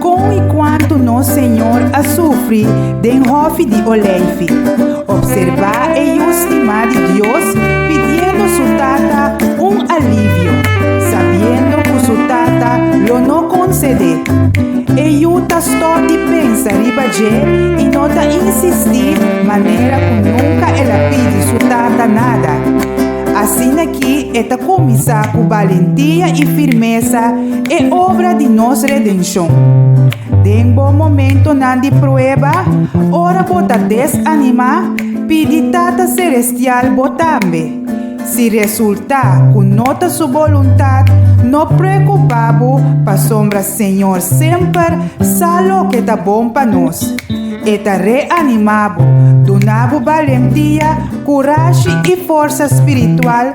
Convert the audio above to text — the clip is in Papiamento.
Kon i kuantu nos Señor a sufri den hòfi di Olèifi. Opserbá e yu stimá di Dios pidiendo su Tata un alivio, sabiendo ku su Tata lo no konsede. E yu ta stòp di pensa riba dje i no ta insistí manera ku nunka el a pidi su Tata nada. Asina ki e ta kuminsá ku balentia i firmesa E obra di nos redenshon. Den bo momentonan di prueba, ora bo ta desanimá, pidi Tata Selestial bo tambe. Si resultá ku no ta su boluntat, no preokupá bo pasobra Señor semper sa loke ta bon pa nos. E ta reanimá bo, duna bo balentia, kurashi i forsa spiritual